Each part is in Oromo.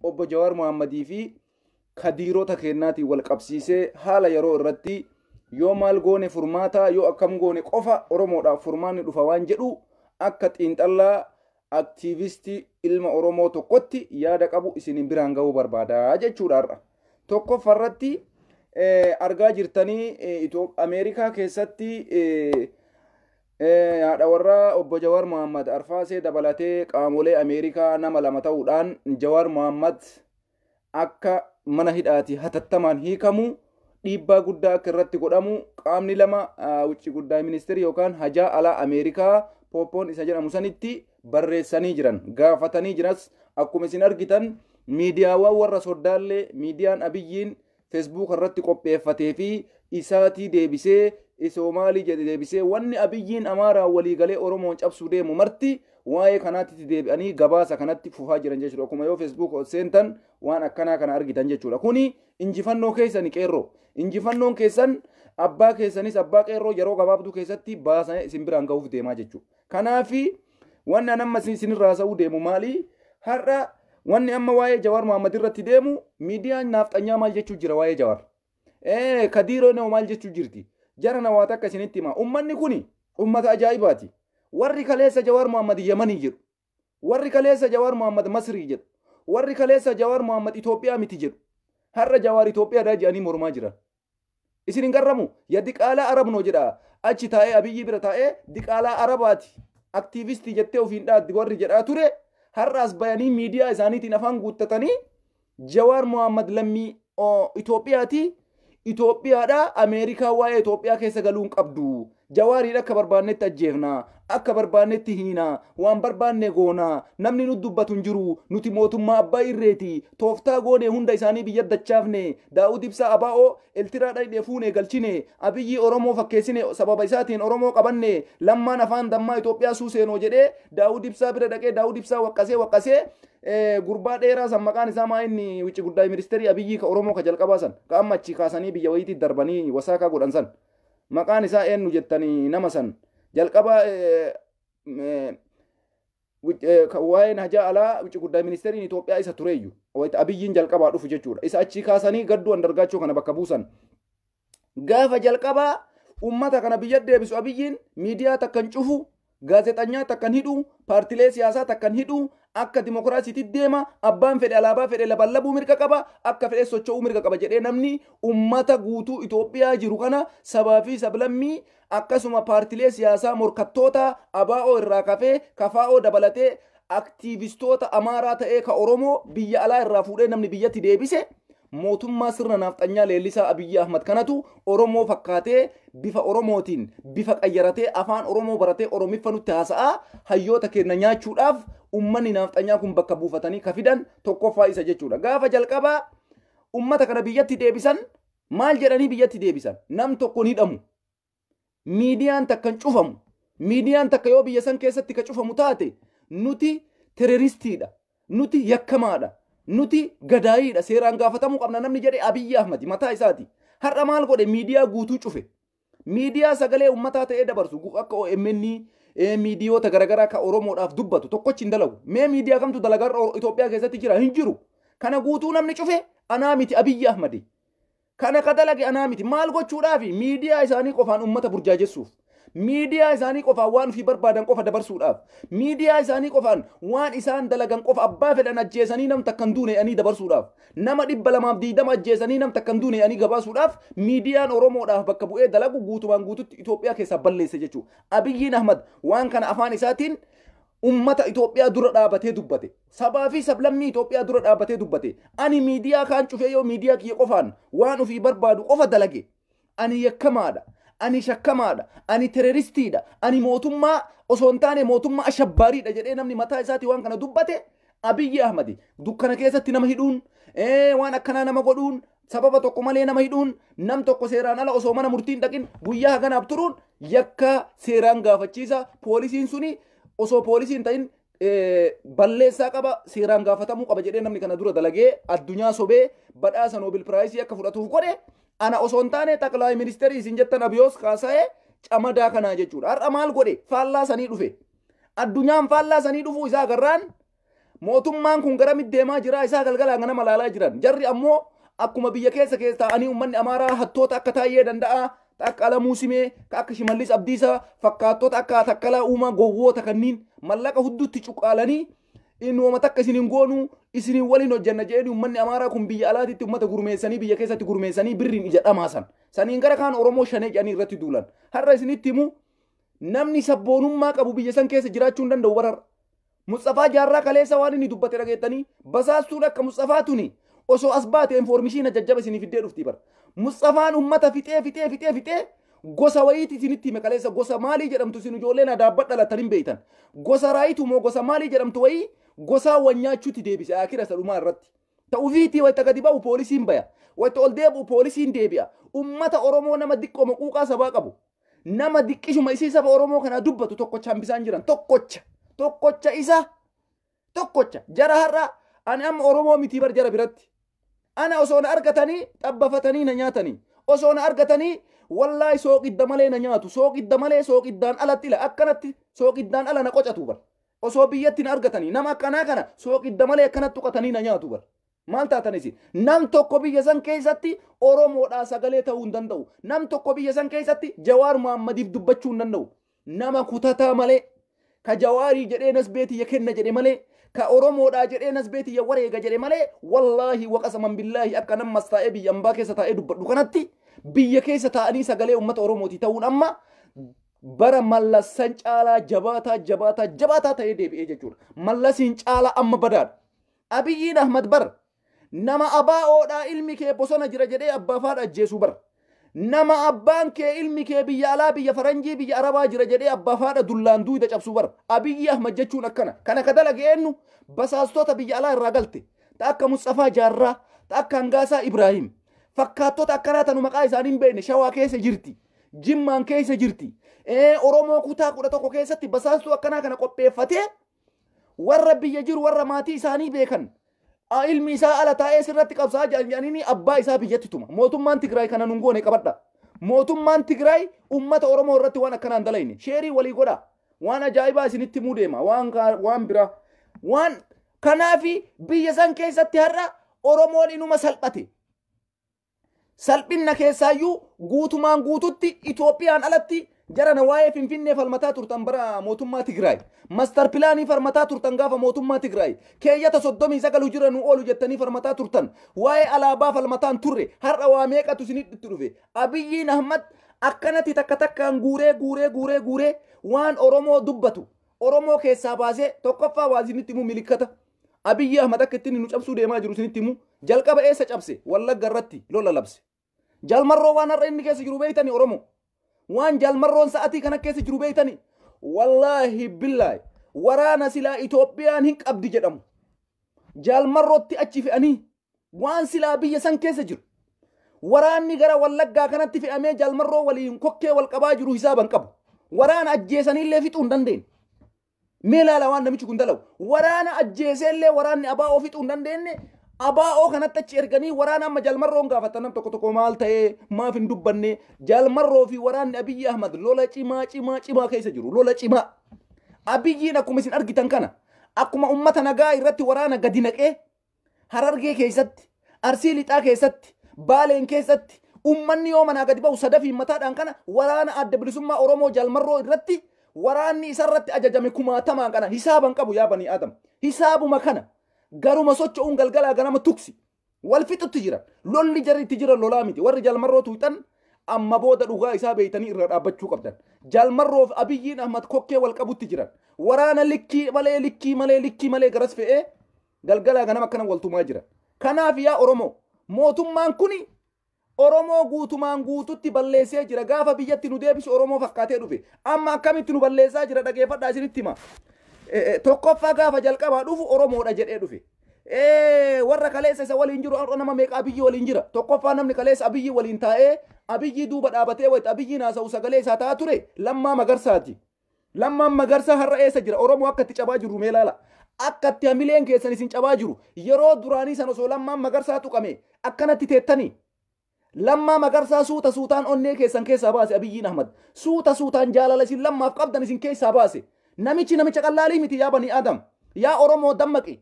obbo Jawaar Mohaammadii fi kadiirota keennaatiin wal qabsiisee haala yeroo irratti yoo maal goone furmaataa yoo akkam goone qofa Oromoodhaaf furmaanni dhufa waan jedhu akka xiinxallaa aktiivistii ilma Oromoo tokkotti yaada qabu isiniin biraan ga'uu barbaada jechuudha har'a. Tokkoffa irratti argaa jirtanii Ameerikaa keessatti Haadha warraa Obbo Jawaar Mohaammad Arfaasee dabalatee qaamolee Ameerikaa nama lama ta'uudhaan Jawaar Mohaammad akka mana hidhaatii hatattamaan hiikamu dhiibbaa guddaa akka irratti godhamu qaamni lama wucci guddaa ministeerii yookaan hajaa alaa Ameerikaa Pooppoon isa jedhamu sanitti barreessanii jiran gaafatanii jiras akkuma isin argitan miidiyaawwan warra soddaallee miidiyaan abiyyiin Fesbuuka irratti qopheeffatee fi isaatii deebisee isoo maalii jedhe deebisee wanni Abiyyiin Amaaraan walii galee Oromoon cabsuu deemu marti waa'ee kanaatti deebi'anii gabaasa kanatti fufaa jiran jechuudha. Akkuma yoo Fesbuuka ol seentan waan akkanaa kana argitan jechuudha. Kuni injifannoo keessani qeerroo. Injifannoon keessan abbaa keessanis abbaa qeerroo yeroo gabaabduu keessatti baasanii isin biraan gahuuf deemaa jechuudha. Kanaafi wanni an amma isinirra haasa'uu deemu maali? Har'a wanni amma waa'ee Jawaar Mohaammed irratti deemu miidiyaan naafxanyaa maal jechuu jira waa'ee Jawaar? Ee Kadiiroo Noo maal jechuu jirti? Jara na waa takka isinitti hima. Ummanni kuni ummata ajaa'ibaati. Warri kaleessa Jawaar Mohaammed Yamanii jedhu. Warri kaleessa Jawaar Mohaammed Masrii jedhu. Warri kaleessa Jawaar Mohaammed Itoophiyaa miti jedhu. Har'a Jawaar Itoophiyaadhaa jedhanii mormaa jiran. Isin hin garramu? Ya diqaalaa Arab no jedha achi taa'ee Abiyyii bira taa'ee diqaalaa Arabaati aktiivistii jettee ofiin dhaaddi warri jedhaa ture har'aas bayanii miidiyaa isaaniitiin afaan guuttatanii Jawaar Mohaammed lammii Itoophiyaati Itoophiyaadhaa Ameerikaa waa'ee Itoophiyaa keessa galuu hin qabdu Jawaariin akka barbaannetti ajjeefna, akka barbaannetti hiina, waan barbaanne goona, namni nut dubbatu hin jiru, nuti mootummaa abbaa irreeti, tooftaa goone hunda isaanii biyyat dachaafne, Daawud Ibsaa abo Eltiraa dhayne fuune galchine, Abiyyii Oromoo fakkeessine sababa isaatiin Oromoo qabanne, Lammaan afaan dammaa Itoophiyaa suuseenoo jedhee Daawud Ibsaa bira dhaqee Daawud Ibsaa waqqasee waqqasee gurbaa dheeraa san maqaan isaa maa inni wicci guddaay ministeerii Abiyyii ka Oromoo ka jalqabaa san ka amma achii kaasanii biyya wayiitii darbanii wasaakaa godhan san Maqaan isaa eennu jettanii nama san? Jalqaba waa'een hajaa alaa wucci guddaa ministeeriin Itoophiyaa isa tureeyyu. Wayita Abiyyiin jalqabaa dhufu jechuudha. Isa achii kaasanii gadduu andargaachoo kana bakka buusan. Gaafa jalqabaa uummata kana biyya deebisu Abiyyiin miidiyaa takkan cufu Gaazexanyaa takkan hidhu, paartilee siyaasaa takkan hidhu, akka dimokiraasiitit deema, abbaan fedhe alaabaa fedhe labalabuu mirga qaba, akka fedhes socho'uu mirga qaba jedhee namni ummata guutuu Itoophiyaa jiru kana sabaa fi sablammii akkasuma paartilee siyaasaa morkattootaa, ABO irraa kafee, KFO dabalatee Aktiivistoota Amaaraa ta'ee ka Oromoo biyya alaa irraa fuudhee namni biyyatti deebise mootummaa sirna naafxanyaa leellisaa Abiyyi Ahmad kanatu Oromoo fakkaatee bifa Oromootiin bifa qayyaratee afaan Oromoo baratee Oromiffa nutti haasa'aa hayyoota keenna nyaachuudhaaf ummanni naafxanyaa kun bakka buufatanii ka fidan tokkoffaa isa jechuudha. Gaafa jalqabaa ummata kana biyyatti deebisan maal jedhanii biyyatti deebisan? Nam tokko hin hidhamu. miidiyaan takka hin cufamu miidiyaan takka yoo biyya san keessatti ka cufamu taate nuti teroristiidha nuti yakkamaadha nuti gadaayiidha seeraan gaafatamuu qabna namni jedhe abiyyi ahmadi mataa isaati har'a maal godhe miidiyaa guutuu cufe miidiyaa sagalee ummataa ta'ee dabarsu gu- akka OMN eh, miidiyoota garaagaraa ka Oromoodhaaf dubbatu tokkochi hin dalagu mee miidiyaa kamtu dalagaa Itoophiyaa keessatti jira hin jiru kana guutuu namni cufe anaa miti abiyyi ahmadi Kana ka dalage anaa miti. Maal gochuudhaafi? Miidiyaa isaanii qofaan uummata burjaajessuuf. Miidiyaa isaanii qofaan waan ofii barbaadan qofa dabarsuudhaaf. Miidiyaa isaanii qofaan waan isaan dalagan qofa abbaa fedhan ajjeesanii nam takka hin duune jedhanii dabarsuudhaaf. Nama dhibba lamaaf digdama ajjeesanii nam takka hin duune jedhanii gabaasuudhaaf miidiyaan Oromoodhaaf bakka bu'ee dalagu guutumaan guututti Itoophiyaa keessaa balleesse jechuudha. Abiyyiin Ahmad waan kana afaan isaatiin uummata Itoophiyaa dura dhaabatee dubbate. sabaa fi sablammii Itoophiyaa dura dhaabbatee dubbate. Ani miidiyaa kaan cufee yoo miidiyaa kiyya qofaan waan ofii barbaadu qofa dalage. Ani yakkamaadha. Ani shakkamaadha. Ani teroristiidha. Ani mootummaa osoo hin taane mootummaa ashabbaariidha jedhee namni mataa isaatii waan kana dubbate Abiyyi Ahmadi dukkana keessatti nama hidhuun ee, waan akkanaa nama godhuun sababa tokko malee nama hidhuun nam tokko seeraan ala osoo mana murtiin dhaqin guyyaa haganaaf turuun yakka seeraan gaafachiisa poolisiin suni osoo poolisiin ta'in balleessaa qaba seeraan gaafatamuu qaba jedhee namni kana dura dalagee addunyaa sobee badhaasa noobil piraayisii akka fudhatuuf godhe ana osoo hin taane xaqlaay ministeerii isin jettan abiyoos kaasa'ee camadaa kanaa jechuudha har'a maal godhe faallaa sanii dhufe addunyaan faallaa sanii dhufuu isaa agarraan mootummaan kun gara middeemaa jira isaa galgalaa ganama laalaa jiran jarri ammoo akkuma biyya keessa keessa ta'anii uummanni amaaraa hattoota akka taa'ee danda'a ka akka Alamuu Simee, ka akka Shimallis Abdiisaa, fakkaattota akka Takkalaa Uumaa gowwoota kanniin mallaqa hudduutti cuqqaalanii inni woma takka isin hin goonu isin waliin hojjanna jedhanii ummanni Amaaraa kun biyya alaatitti ummata gurmeessanii biyya keessatti gurmeessanii birriin ija dhamaasan. Saniin gara kaan Oromoo shanee jedhanii irratti duulan. Har'a isinitti himu namni sabboonummaa qabu biyya san keessa jiraachuu hin danda'u bararra. Musxafaa jaarraa kaleessa waan inni dubbate dhageettanii basaastuun akka Musxafaa tuni osoo as baate informishiina jajjaba isinii fiddee dhufti bar. Musxafaan ummata fixee fixee fixee fixee gosa wayiiti isinitti hime kaleessa gosa maalii jedhamtu isin ijoolleen adaabbat dhalatan hin beeytan. Gosa raayitu moo gosa maalii jedhamtu wayii gosaa wal nyaachuutti deebise akira isa dhumaa irratti. Ta ufiitii wayita gadi ba'u poolisiin baya. Wayita ol deebi'u poolisiin deebi'a. Ummata Oromoo nama diqqooma quuqaa sabaa qabu. Nama diqqishuma isii saba Oromoo kanaa dubbatu tokkocha hambisaan jiran. Tokkocha. Tokkocha isa. Tokkocha. Jara har'a ani amma Oromoo mitii bar jara biratti. Ana osoo na argatanii xabbafatanii na nyaatanii. Osoo na argatanii wallaahi sooqidda malee na nyaatu. Sooqidda malee sooqiddaan alatti ila akkanatti sooqiddaan ala na qocatu bar. Osoo biyyatti na argatanii nama akkanaa kana sooqidda malee akkanatti tuqatanii na nyaatu bar. Maal taatan isin? Nam tokko biyya san keessatti Oromoodhaa sagalee ta'uu hin danda'u. Nam tokko biyya san keessatti Jawaar Muhammadiif dubbachuu hin danda'u. Nama kutataa malee, ka Jawaarii jedhee nasbee tiyya kenna jedhe malee, ka Oromoodhaa jedhee nasbee tiyya wareega jedhe malee, wallaahi waqasaman billaahi akka nammas taa'ee biyya ambaa keessa taa'ee dubbadhu kanatti biyya keessa taa'anii sagalee uummata Oromootii ta'uun amma bara mallassan caalaa jabaataa jabaataa jabaataa ta'ee deebi'ee jechuudha. Mallasiin caalaa amma badaadha. Abiyyiin Ahmad bar nama ABO dhaa ilmi kee bosona jira jedhee abbaaf haadha ajjeesuu bar nama abbaan kee ilmi kee biyya alaa biyya faranjii biyya arabaa jira jedhee abbaaf haadha dullaan duuyda cabsuu bar Abiyyi Ahmad jechuun akkana kana ka dalage eennu basaastota biyya alaa irraa galte ta akka Musxafaa Jaarraa ta akka Hangaasaa Ibraahim fakkaattota akkanaa tanu maqaa isaanii hin beekne shawaa keessa jirti jimmaan keessa jirti Ee, Oromoo kutaa kudha tokko keessatti basaastuu akkanaa kana qopheeffatee warra biyya jiru warra maatii isaanii beekan a- ilmi isaa ala taa'ee sirratti qabsaa jedhanii abbaa isaa biyyatti tuma mootummaan Tigraay kana nun goone qabadha mootummaan Tigraay ummata Oromoo irratti waan akkanaan dalayne sheerii walii godha waan ajaa'ibaa isinitti muu deema waan kaa- waan biraa waan kanaafi biyya san keessatti har'a Oromoon inuma salphate Salphinna keessaayyuu guutumaan guututti Itoophiyaan alatti jarana waa'ee Finfinnee falmataa turtan bara mootummaa Tigraay. Mastar pilaanii farmataa turtan gaafa mootummaa Tigraay. Keeyyata 39 hujira nu oolu jettanii farmataa turtan. Waa'ee alaabaa falmataan turre har'a waa meeqatu isinitti dhufe. Abiyyiin Ahmad akkanatti takka takkaan guuree guuree guuree guuree waan Oromoo dubbatu. Oromoo keessaa baasee tokkoffaa waa isinitti immoo milikkata. Abiyyi Ahmad akka ittiin nu cabsuu deemaa jiru isinitti himu jalqaba eessa cabse wallagga irratti lola labse. Jalmarroo waan har'a inni keessa jiru beektani Oromoo. Waan jalmarroon sa'atii kana keessa jiru beektani. Wallaahi billaahi waraana silaa Itoophiyaan hin qabdi jedhamu. Jalmarrootti achi fe'anii waan silaa biyya san keessa jiru. Waraanni gara wallaggaa kanatti fe'amee jalmarroo waliin kokkee wal qabaa jiru hisaaban qabu. Waraana ajjeesaniillee fixuu hin dandeenye. Mee laala waan namichi kun dalagu. Waraana ajjeesee illee waraanni abaa'oo fixuu hin dandeenye abaa'oo kanatti achi erganii waraana amma jalmarroon gaafatan nam tokko tokko maal ta'ee maaf hin dubbanne jalmarroo fi waraanni Abiyyi Ahmad lola cimaa cimaa cimaa keessa jiru lola cimaa. Abiyyiin akkuma isin argitan kana akkuma ummata nagaa irratti waraana gadi naqee Harargee keessatti, Arsii Lixaa keessatti, Baaleen keessatti ummanni yoo manaa gadi ba'u sadafiin mataadhaan kana waraana adda bilisummaa Oromoo jalmarroo irratti waraanni isarratti ajajame kumaatamaan kana hisaaban qabu yaa banii aadam. Hisaabuma kana garuma socho'uun galgalaa ganama tuksi. Wal fixutti jira. Lolli jarri itti jiran lolaa miti. Warri jalmarroo tuuxan amma booda dhugaa isaa beeytanii irra dhaabbachuu qabdan. Jalmarroof abiyyiin Ahmad kokkee wal qabutti jiran. Waraana likkii malee likkii malee likkii malee garas fe'ee Galgalaa ganama akkana wal tumaa jiran. Kanaaf yaa Oromoo mootummaan kuni Oromoo guutumaan guututti balleessee jira. Gaafa biyyatti nu deebisu Oromoo fakkaatee dhufe. Amma akkamitti nu balleessaa jira dhageeffadhaa isinitti hima. Eh, eh, Tokkoffaa gaafa jalqabaa dhufu Oromoodha jedhee dhufe. Eh, Warra kaleessa isa waliin jiru har'a nama meeqa abiyyi waliin jira. Tokkoffaa namni kaleessa abiyyi waliin taa'ee abiyyi duuba dhaabatee wayita abiyyi naasa'u sagalee isaa ta'aa ture lammaa magarsaati. Lammaan Magarsaa har'a eessa jira? Oromoo akka itti cabaa jirru mee ilaalaa. Akka itti hamileen keessan isin cabaa jiru. Yeroo duraanii san osoo Lammaan Magarsaa tuqamee akkanatti teettanii? Lammaa Magarsaa suuta suutaan onnee keessan keessaa baase Abiyyiin Ahmad. Suuta suutaan jaalala isin Lammaaf qabdan isin keessaa baase. Namichi namicha qallaalii miti yaa banii Aadam. Yaa Oromoo dammaqi.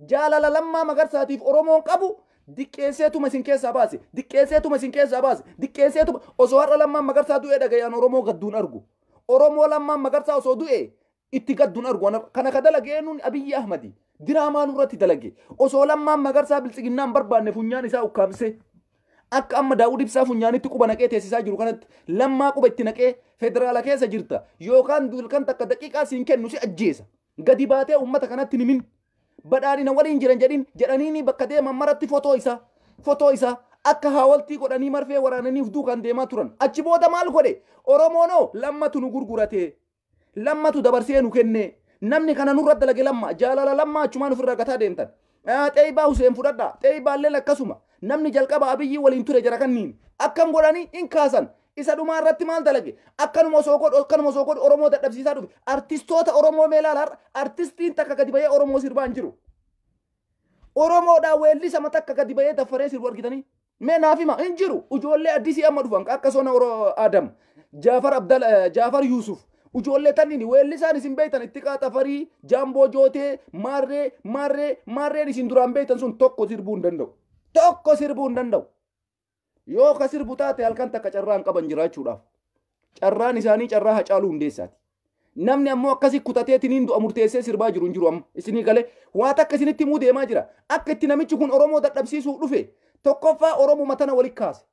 Jaalala Lammaa Magarsaatiif Oromoon qabu diqqeesseetuma isin keessaa baase, diqqeesseetuma isin keessaa baase, diqqeesseetuma osoo har'a Lammaan Magarsaa du'ee dhaga'e an Oromoo gadduun argu. Oromoo Lammaan Magarsaa osoo du'e itti gadduun argu. An har'a- Kana ka dalage eenyuun Abiyyi Ahmadi. Diraamaa nurratti dalage. Osoo Lammaan Magarsaa biltsiginnaa hin barbaanne funyaan isaa ukkaamsee akka amma Daawud Ibsaa funyaanitti quba naqee teessisaa jiru kanatti lammaa quba itti naqee federaala keessa jirta yookaan duulkan takka daqiiqaa siin kennu si ajjeesa. Gadi baatee uummata kanatti hin himin. Badhaadhina waliin jiran jedhin jedhaniinii bakka deeman maratti fotoo isaa, fotoo isaa, akka haawaltii godhanii marfee waraananii of duukaan deemaa turan. Achi booda maal godhe? Oromoon hoo? Lammatu nu gurgurate. Lammatu dabarsee nu kenne. Namni kana nurra dalage Lamma. Jaalala Lammaa achumaan ofirraa gataa deemtan. Xeeybaa Huseen fudhadhaa. Xeeybaalleen akkasuma. Namni jalqaba Abiyyii waliin ture jara kanniin. Akkam godhani hin kaasan. Isa dhumaa irratti maal dalage? Akkanuma osoo godhu akkanuma osoo godhu Oromoo dadhabsiisaa dhufe. Artistoota Oromoo mee ilaala har'a artistiin takka gadi bahee Oromoo sirbaa hin jiru. Oromoodhaa weellisama takka gadi bahee daffaree sirbu argitanii? Mee naaf hima hin jiru ijoollee addisii amma dhufan ka akka sona oro adam jaafar abdal eh, jaafar yuusuf ijoollee tanniin weellisaan isin beektan itti qaatafarii jaamboo jootee maarree maarree maarreen isin duraan beektan sun tokko sirbuu hin danda'u tokko sirbuu hin danda'u yoo ka sirbu taate halkan takka carraan qaban jiraachuudhaaf Carraan isaanii carraa Hacaaluu Hundeessaati. Namni ammoo akkasi kutateetiniin du'a murteessee sirbaa jiru hin jiru amma. Isinii galee waa takka isinitti himuu deemaa jira. Akka itti namichi kun Oromoo dadhabsiisuuf dhufe tokkoffaa Oromuma tana walitti kaase.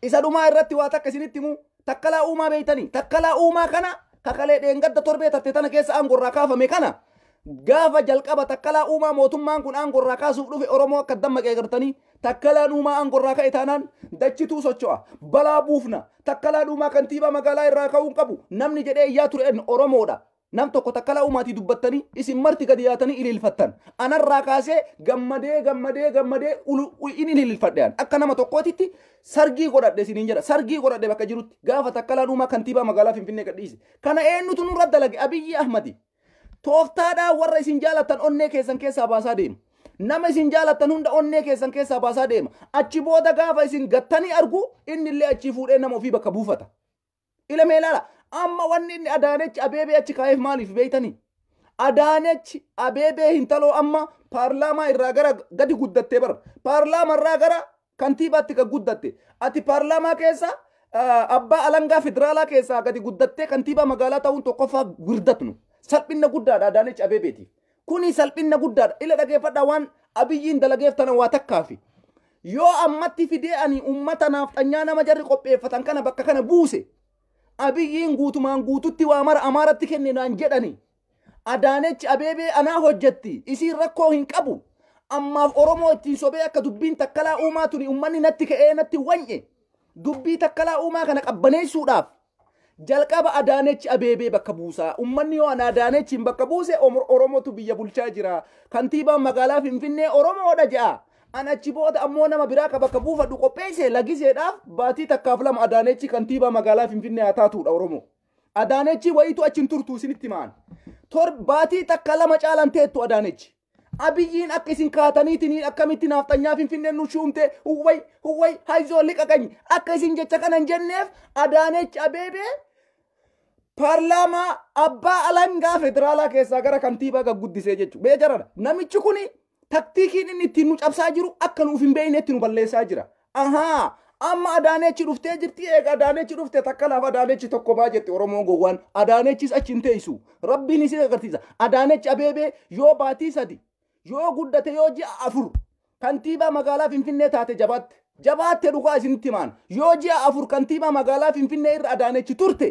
Isa dhumaa irratti waa takka isinitti himuu takkalaa uumaa beeytanii takkalaa uumaa kana kakalee dheengadda torbee tatte tana keessa aangorraa kaafame kana gaafa jalqaba takkalaa uumaa mootummaan kun aangorraa kaasuuf dhufe Oromoo akka dammaqee gartanii Takkalaan Uumaa aangorraa ka'e taanaan dachituu socho'a. Balaa buufna. Takkalaan Uumaa kantiibaa magaalaa irraa ka'uu hin qabu. Namni jedhee iyyaa ture eenyu? Oromoodha. Nam tokko Takkalaa Uumaatii dubbattanii isin marti gadi yaatanii ililfattan. Anarraa kaasee gammadee gammadee gammadee ulu- u- in ililfadhe an. Akka nama tokkootitti sargii godhadhe isiniin jedha. Sargii godhadhe bakka jirutti. Gaafa Takkalaan Uumaa kantiibaa magaalaa Finfinnee gadhiise. Kana eenyutu nurra dalage? Abiyyi Ahmadi. Tooftaadhaan warra isin jaalattan onnee keessan keessaa baasaa deema. Nama isin jaalattan hunda onnee keessan keessaa baasaa deema. Achi booda gaafa isin gattanii argu inni illee achii fuudhee nama ofii bakka buufata. Ilamee ilaala. Amma wanni inni Adaanechi Abeebee achi kaa'eef maaliif beektanii? Adaanechi Abeebee hintaloo amma paarlaamaa irraa gara gadi guddattee bara. Paarlaamaa irraa gara Kantiibaatti kan guddatte. Ati paarlaamaa keessa abbaa alangaa federaalaa keessaa gadi guddattee kantiibaa magaalaa ta'uun tokkoffaa wirdatnu. Salphinna guddaadha Adaanech Abeebeetiif. Kuni salphinna guddaadha. Ila dhageeffadhaa waan Abiyyiin dalageef tana waa takkaafi. Yoo ammatti fidee ani ummata naafxanyaa nama jarri qopheeffatan kana bakka kana buuse Abiyyiin guutumaan guututti waa mara Amaaratti kenne naan jedhani. Adaanech Abeebee anaa hojjetti, isiin rakkoo hin qabu. Ammaaf Oromoo ittiin sobee akka dubbiin Takkalaa Uumaa tuni ummanni natti ka'ee natti wany'e. Dubbii Takkalaa Uumaa kana qabbaneessuudhaaf jalqaba Adaanech Abeebee bakka buusaa. Ummanni yoo ana Adaanechiin bakka buuse Oromotu biyya bulchaa jira. Kantiibaan magaalaa Finfinnee Oromoodha je'a. An achi booda ammoo nama biraa ka bakka buufadhu qopheesse lagiseedhaaf baatii takkaaf lama Adaanechi kantiibaa magaalaa Finfinnee haa taatuudha Oromoo. Adaanechi wayitu achi hin turtu isinitti himaan. Torbaatii takka lama caalan teettu Adaanechi. Abiyyiin akka isin kaataniitiin akkamitti naafxanyaa finfinneen nu shuumte huwway huwway hayzoo liqa qanyi akka isin jecha kana hin jenneef Adaanechi Abeebee paarlaamaa abbaa alangaa federaalaa keessaa gara kantiibaa gagguddisee jechuudha. Beekaradha. Namichi kuni Taktiikiin inni ittiin nu cabsaa jiru akka nuuf hin beeknetti nu balleessaa jira. Ahaa! Amma Adaanechi dhuftee jirti eega Adaanechi dhufte takka laaf Adaanechi tokko baa jette Oromoo gowwaan. Adaanechis achi hin teessu. Rabbiin isin agarsiisa. Adaanechi Abeebee yoo baatii sadi yoo guddate yoo ji'a afur kantiibaa magaalaa Finfinnee taate jabaatte. Jabaatte dhugaa isinitti himaan. Yoo ji'a afur kantiibaa magaalaa Finfinnee irra Adaanechi turte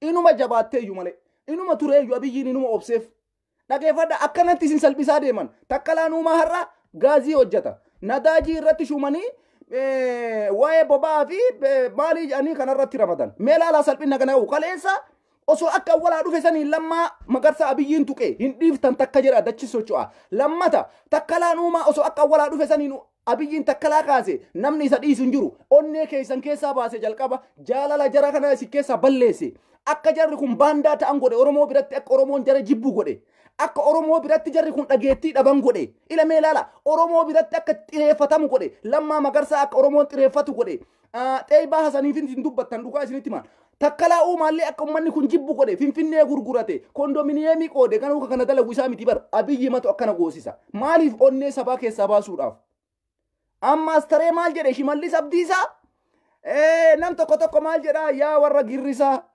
inuma jabaatteeyyu malee. Inuma tureeyyu Abiyyiin inuma obseef. Dhageeffadha akkanatti isin salphisaa deeman. Takkalaan uumaa har'a gaazii hojjeta. Nadaajii irratti shuumanii eh, waa'ee boba'aa fi eh, maalii jedhanii kanarratti ramadan. Mee laalaa salphina kana qabu. Kaleessa osoo akka walaa dhufe saniin lammaa magarsa abiyyiin tuqe hin dhiiftan takka jedha dachi socho'a. Lammata takkalaan uumaa osoo akka walaa dhufe saniin Abiyyiin Takkalaa kaase namni isa dhiisu hin jiru. Onnee keessan keessaa baase jalqaba jaalala jara kanaa isin keessaa balleesse. Akka jarri kun baandaa ta'an godhe Oromoo biratti akka Oromoon jara jibbu godhe. Akka Oromoo biratti jarri kun dhageettii dhaban godhe. Ila mee ilaala Oromoo biratti akka xireeffatamu godhe. Lammaa Magarsaa akka Oromoon xireeffatu godhe. Ah, Xeeybaa Hasaniifin isin dubbattan dhugaa isinitti himaan. Takkalaa uumaallee akka ummanni kun jibbu godhe finfinnee gurgurate kondominiyeemii qoode ganuu kan kana dalagu isaa miti bar abiyyi matu akkana goosisa maaliif onnee sabaa keessaa baasuudhaaf ammaas taree maal jedhe shimallis abdiisaa Eh, nam tokko tokko maal jedha yaa warra girrisaa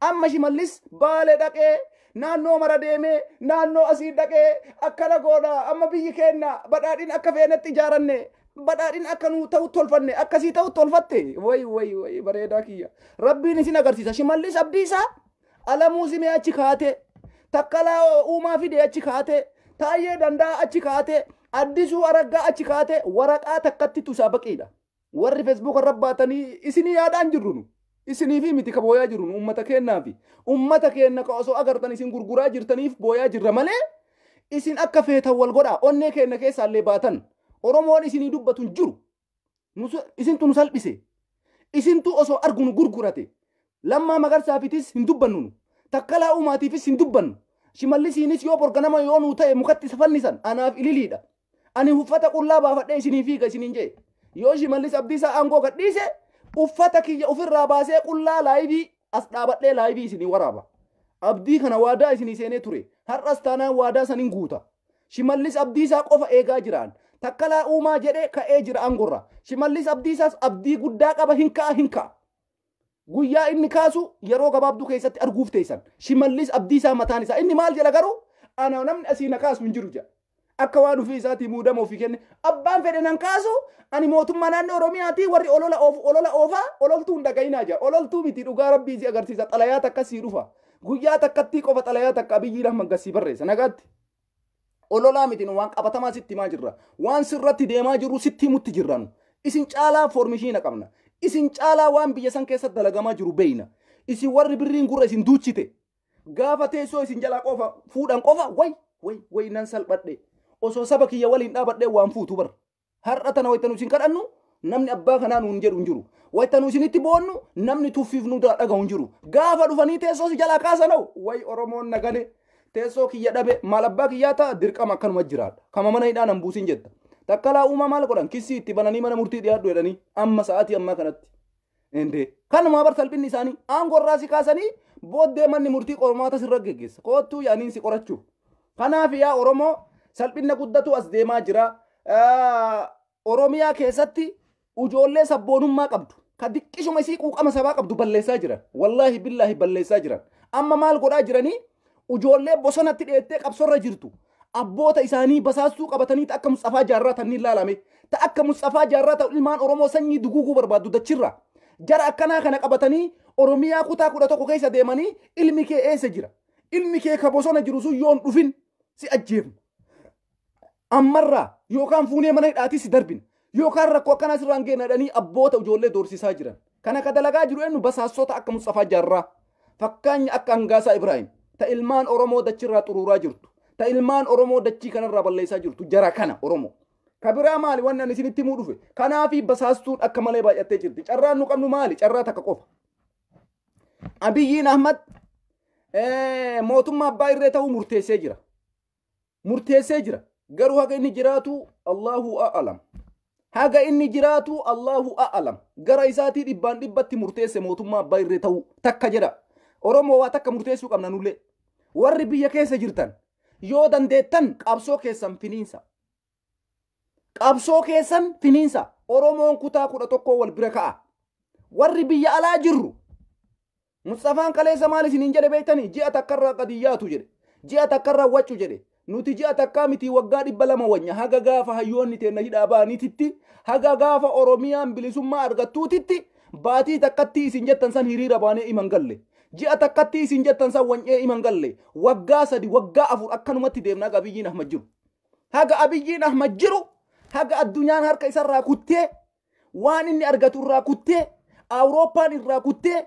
Amma Shimallis Baale dhaqee naannoo mara deemee naannoo asii dhaqee akkana goona amma biyyi keenna badhaadhina akka feenetti ijaaranne badhaadhina akka nuu ta'u tolfanne akkasii ta'u tolfatte way way way bareedaa kiyya rabbiin isin agarsiisa shimallis abdiisaa alamuu simee achi kaatee takkalaa uumaa fidee achi kaatee taayyee dandaa achi kaatee addisuu araggaa achi kaatee waraqaa takkatti tusaa baqiidha Warri Facebook irra baatanii isinii yaadaan jirru nu. Isiniifi miti ka booyaa jirru nu ummata keennaafi. Ummata keenna ka osoo agartan isin gurguraa jirtaniif booyaa jirra malee isin akka feetan wal godhaa onnee keenna keessaallee baatan Oromoon isinii dubbatu hin jiru. Nu isintu nu salphise. Isintu osoo argu nu gurgurate. Lammaa Magarsaafitis hin dubbannu nu. Takkalaa Uumaatiifis hin dubbannu. Shimallisiinis yoo bor ganama yoo nuu ta'e mukatti isa fannisan anaaf ililiidha. Ani uffata qullaa baafadhee isiniin fiiga isiniin jee. Yoo Shimallis Abdiisaa aangoo gadhiise uffata kiyya ofirraa baasee qullaa laayivii as dhaabadhee laayivii isinii waraaba. Abdii kana waadaa isinii seenee ture. Har'as taanaan waadaa sanin guuta. Shimallis Abdiisaa qofa eegaa jiraan. Takkalaa Uumaa jedhe ka'ee jira aangorra. Shimallis Abdiisaas abdii guddaa qaba hin ka'a hin ka'a. Guyyaa inni kaasu yeroo gabaabduu keessatti arguuf teessan. Shimallis Abdiisaa mataan isaa. Inni maal jedha garuu? Ana namni asii na kaasu hin jiru jedha. Akka waan ofii isaatii muudama ofii kenne. Abbaan fedhe nan kaasu ani mootummaa naannoo Oromiyaatii warri olola oofu olola oofaa ololtuu hin dhaga'inaa jedha. Ololtuu miti dhugaa rabbii si agarsiisa xalayaa takka sii dhufa. Guyyaa takkattii qofa xalayaa takka Abiyyiin Ahmad Gassii barreessa nagaatti. Ololaa miti nu waan qabatamaa sitti himaa jirra. Waan sirratti deemaa jirru sitti himutti jirra nu. Isin caalaa foormishiina qabna. Isin caalaa waan biyya san keessa dalagamaa jiru beeyna. Isin warri birriin gurra isin duuchite. Gaafa teessoo isin jalaa qofa fuudhan qofa way way way nan salphadhe. Osoo saba kiyya waliin dhaabadhee waan fuutu bar. Har'a tana wayita nu isin kadhannu namni abbaa kanaa nuun jedhu hin jiru. Wayita nu isinitti boonnu namni tuffiif nu daa dhagahu hin jiru. Gaafa dhufanii teessoo si jalaa kaasan hoo wayi Oromoon na gale teessoo kiyya dhabe maal abbaa kiyyaa ta'a dirqama akkanuma jiraadha. Kama mana hidhaa nan buusin jetta. Takkalaa uumaa maal godhan kissii itti bananii mana murtii dhiyaadhu jedhanii amma sa'aatii ammaa kanatti. Indee kanumaa bar salphinni isaanii aangoo irraa si kaasanii booddee manni murtii qormaata sirra geggeessa koottuu yaaniin si qorachuuf. Kanaaf yaa Oromoo salphinna guddatu as deemaa jira. Oromiyaa keessatti ujoollee sabboonummaa qabdu ka diqqishuma isii quuqama sabaa qabdu balleessaa jiran. Wallaahi billaahi balleessaa jiran. Amma maal godhaa jiranii Ujoollee bosonatti dheettee qabsorra jirtu abboota isaanii basaastuu qabatanii ta akka Musxafaa Jaarraa tanniin laalame ta akka Musxafaa Jaarraa ta ilmaan Oromoo sanyii duguuguu barbaaddu dachirra jara akkanaa kana qabatanii Oromiyaa kutaa kudha tokko keessa deemanii ilmi kee eessa jira ilmi kee ka bosona jiru sun yoon dhufin si ajjeefna Ammarraa yookaan fuunee mana hidhaatii si darbina. Yookaan rakkoo akkanaa sirraan geena jedhanii abboota ijoollee doorsisaa jiran. Kana ka dalagaa jiru eenyu basaassota akka Musxafaa Jaarraa. Fakkaanya akka Hangaasaa Ibraahim. Ta ilmaan Oromoo dachirraa xuruuraa jirtu. Ta ilmaan Oromoo dachii kanarraa balleessaa jirtu jara kana Oromoo. Ka biraa maali wanni ani isinitti himuu dhufe. Kanaafii basaastuun akka malee baay'attee jirti. Carraan nu qabnu maali? Carraa takka qofa. Abiyyiin Ahmad mootummaa abbaa irree ta'uu murteessee jira. murteessee jira. Garuu haga inni jiraatu Allahu a'alam. Haga inni jiraatu Allahu a'alam. Gara isaatii dhibbaan dhibbatti murteesse mootummaa abbaa irree ta'uu takka jedha. Oromoo waa takka murteessuu qabna nullee. Warri biyya keessa jirtan yoo dandeettan qabsoo keessan finiinsa. Qabsoo keessan finiinsa. Oromoon kutaa kudha tokkoo wal bira ka'a. Warri biyya alaa jirru Musxafaan kaleessa maal isiniin jedhe beektanii? Ji'a takkarraa gad hin yaatu jedhe. Ji'a takkarraa waccu jedhe. Nuti ji'a takkaa mitii waggaa dhibba lama wanya haga gaafa hayyoonni teenna hidhaa ba'aniititti haga gaafa Oromiyaan bilisummaa argattuutitti baatii takkattii isin jettan san hiriira baanee ima hin galle. Ji'a takkattii isin jettan san wany'ee ima hin galle. Waggaa sadi waggaa afur akkanumatti deemna haga Abiyyiin Ahmad jiru. Haga Abiyyiin Ahmad jiru haga addunyaan harka isarraa kuttee waan inni argatu irraa kuttee awurooppaan irraa kuttee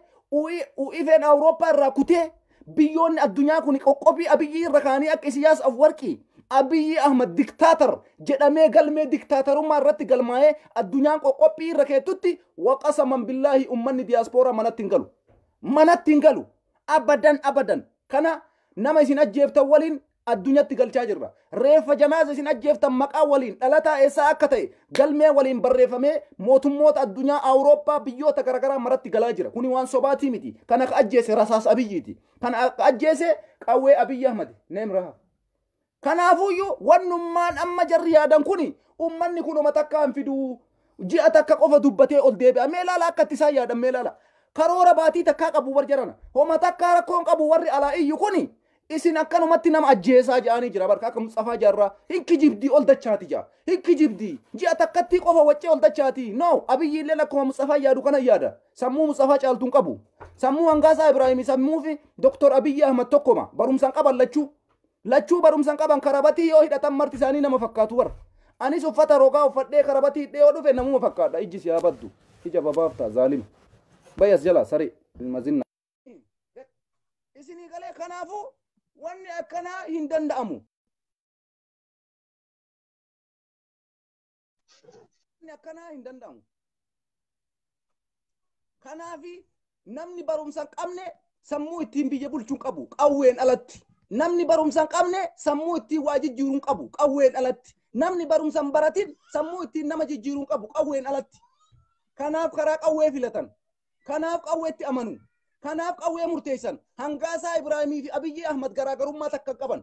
uifeen awurooppaa irraa kutee biyyoonni addunyaa kun qoqqobii abiyyii irra kaanii akka isiyaas afwarqii abiyyii ahmad diktaatar jedhamee galmee diktaatarummaa irratti galmaa'ee addunyaan qoqqophii irra keettutti waqasaman billaahi ummanni diyaaspooraa manatti hin galu manatti hin galu abadan abadan kana nama isin ajjeeftan waliin addunyatti galchaa jirra. Reeffa janaaza isin ajjeeftan maqaa waliin dhalataa eessaa akka ta'e galmee waliin barreeffamee mootummoota addunyaa Awurooppaa biyyoota garaagaraa maratti galaa jira. Kuni waan sobaatii miti. Kan akka ajjeese rasaas abiyyiiti. Kan akka ajjeese qawwee abiyyi ahmadi. Neem raha. Kanaafuyyuu wannummaan amma jarri yaadan kuni ummanni kun homa takkaa hin fiduu. Ji'a takka qofa dubbatee ol deebi'a. Mee ilaala akka itti isaan yaadan mee ilaala. Karoora baatii takkaa qabu warri jarana. Homa takkaa rakkoon qabu warri alaa iyyu kuni Isin akkanumatti nama ajjeesaa ja'anii jira barka akka Musxafaa Jaarraa hin kijibdii ol dachaati ja'a. Hin kijibdii ji'a takkattii qofa waccee ol dachaati. No abiyyi illee akkuma Musxafaa yaadu kana yaada. Sammuu Musxafaa caaltu hin qabu. Sammuu Hangaasaa Ibraahimii sammuu fi Doktor Abiyyi Ahmad tokkoma barumsan qaban lachuu. Lachuu barumsan qaban karabatii yoo hidhatan marti isaanii nama fakkaatu bara. Anis uffata rogaa uffadhee karabatii hidhee yoo dhufe namuma fakkaadha ijji si haa baddu. Ija babaaftaa zaalima. Bayas jala saree ilma zinna. isinii galee kanaafuu wanni akkanaa hin danda'amu. Wanni akkanaa hin danda'amu. Kanaafi namni barumsa hin qabne sammuu ittiin biyya bulchuu hin qabu qawween alatti. Namni barumsa hin qabne sammuu ittiin waa jijjiiruu hin qabu qawween alatti. Namni barumsa hin baratin sammuu ittiin nama jijjiiruu hin qabu qawween alatti. Kanaaf karaa qawwee filatan. Kanaaf qawweetti amanu. Kanaaf qawwee murteessan. Hangaasaa Ibraahimii fi Abiyyii Ahmad garaagarummaa takka hin qaban.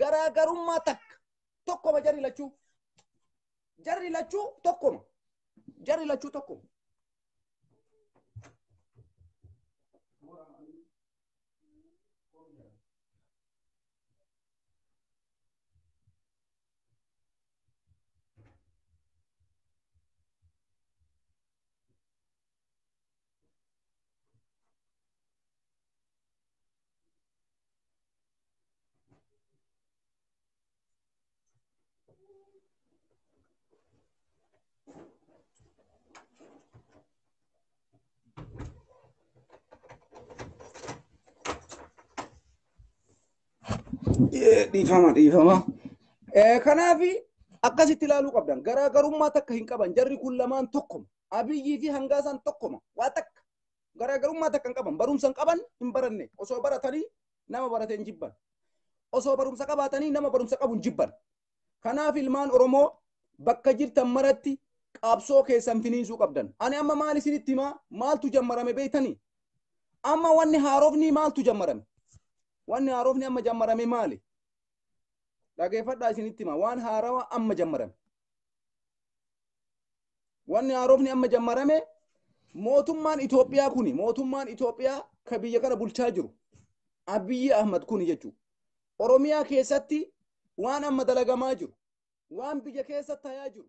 Garaagarummaa takka. Tokkoma jarri lachuu. Jarri lachuu tokkoma. Jarri lachuu tokkoma. dhiifama dhiifama. Kanaaf akkasitti ilaaluu qabdan garaagarummaa takka hin qaban jarri kun lamaan tokkuma Abiyyii fi hangaasaan tokkoma waa takka garaagarummaa takka hin qaban barumsa hin qaban hin baranne osoo baratanii nama barate hin jibban osoo barumsa qabaatanii nama barumsa qabu hin jibban kanaaf ilmaan oromoo bakka jirtan maratti qabsoo keessan finiinsuu qabdan ani amma maal isinitti himaa maaltu jammarame beektanii amma wanni haarofni maaltu jammarame wanni haarofni amma jammarame maali dhageeffadhaa isinitti himaa waan haarawa amma jammarame Wanni haarofni amma jammarame mootummaan Itoophiyaa kuni mootummaan Itoophiyaa ka biyya kana bulchaa jiru Abiyyi Ahmad kuni jechuudha. Oromiyaa keessatti waan amma dalagamaa jiru waan biyya keessa tayaa jiru